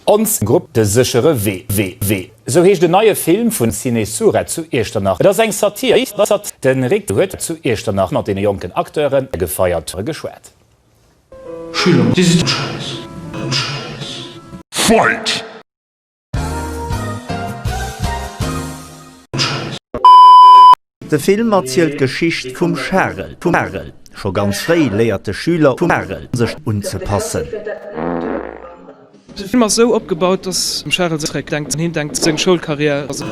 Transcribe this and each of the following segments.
Ons Grupp De séchere Wee, sou heescht en neie Film vun Ciné Surette zu Iechternach. Et ass eng Satir. De Rick huet zu Iechternach mat deene jonken Acteuren a Gefeierte geschwat. Schüler, Dir sidd en Schäiss, en Schäiss. Fight! De Film erzielt d'Geschicht vum Charel. Scho ganz fréi léiert de Schüler vum Charel, sech unzepassen. De Film ass esou opgebaut, dass dem Charel säi Schreck denkt, hien denkt seng Schoulkarriär a sech.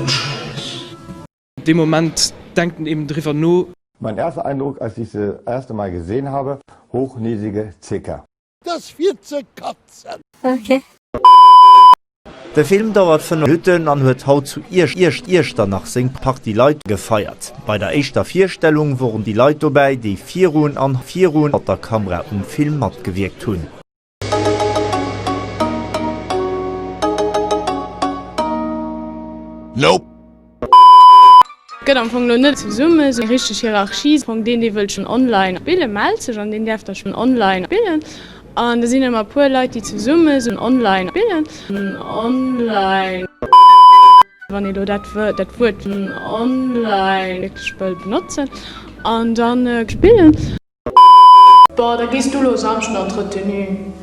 Dee Moment denkt en eben driwwer no. Mein erster Eindruck, als ich se das erste Mal gesehen habe, hochnäsige Zecker. Dass fir ze katzen. Okay. De Film dauert 5 Minutten an huet haut zu Iechternach seng Partie Leit gefeiert. Bei der éischter Virstellung woren déi Leit dobäi, déi virun an hannert der Kamera um Film matgewierkt hunn. Nope! Gëtt am Fong elo net zesumme esou eng richteg Hierarchie, am Fong deen dee wëllt schonn online billen, mellt sech an deen däerf da schonn online billen an da sinn ëmmer e puer Leit déi zesumme esou online billen, online. Wann ee elo dat Wuert dat Wuert online wierklech wëll benotzen an dann billen. Boah da gees du lo Samschden an d'Retenue.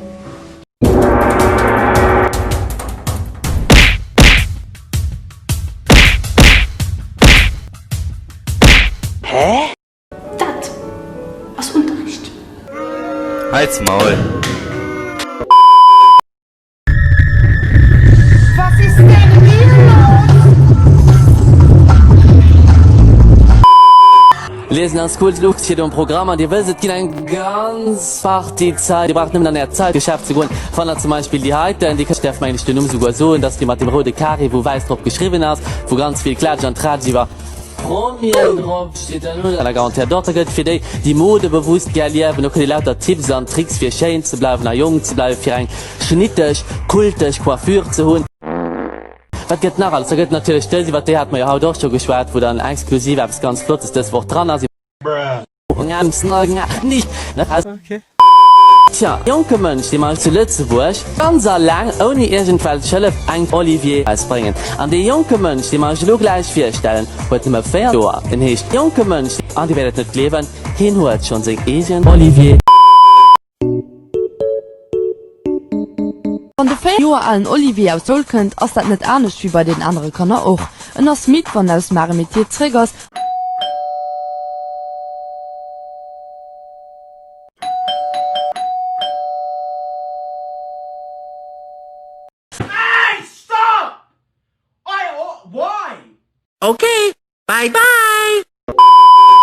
Dat ass Unterricht. Halt's Maul! Liesen ass cool, lucht fir dem Programm an Dir wësst et ginn eng ganz Partie Zäit. Dir braucht nëmmen an Äert Zäitgeschäft ze goen. Fannt der zum Beispill déi heiten, déi kënnt, däerf mengen ech den Numm souguer soen, dat ass déi mat dem roude Carré wou wäiss drop geschriwwen ass, wou ganz vill Klatsch an Tratsch iwwer. Promien drop steet dann un der Garantiert Dotter gëtt fir déi déi Mode bewusst gär liewen. Do kritt Dir lauter Tipps an Tricks fir schéin ze bleiwen a jonk ze bleiwen, fir eng schnitteg, kulteg Coiffure ze hunn. Wat gëtt nach alles? Da gëtt et natierlech dës, iwwert déi hate mer jo haut och scho geschwat, wou dann exklusiv eppes ganz Flottes dës Woch dran ass. Tja, jonke Mënsch, dee mei zu Lëtzebuerg ganz alleng ouni iergendwelch Hëllef eng Olivier erausbréngen. An dee jonke Mënsch, dee mer iech elo gläich virstellen, huet nëmme 4 Joer. En heescht jonke Mënsch, an dir wäert et net gleewen, hien huet schonn seng eegen Olivier. Wann de 4 Joer alen Olivier aus Soul kënnt, ass dat net anescht wéi bei den anere Kanner och. En ass midd, wann en aus dem Arrêt-métier zeréck ass. Ech hu mech net verstanen.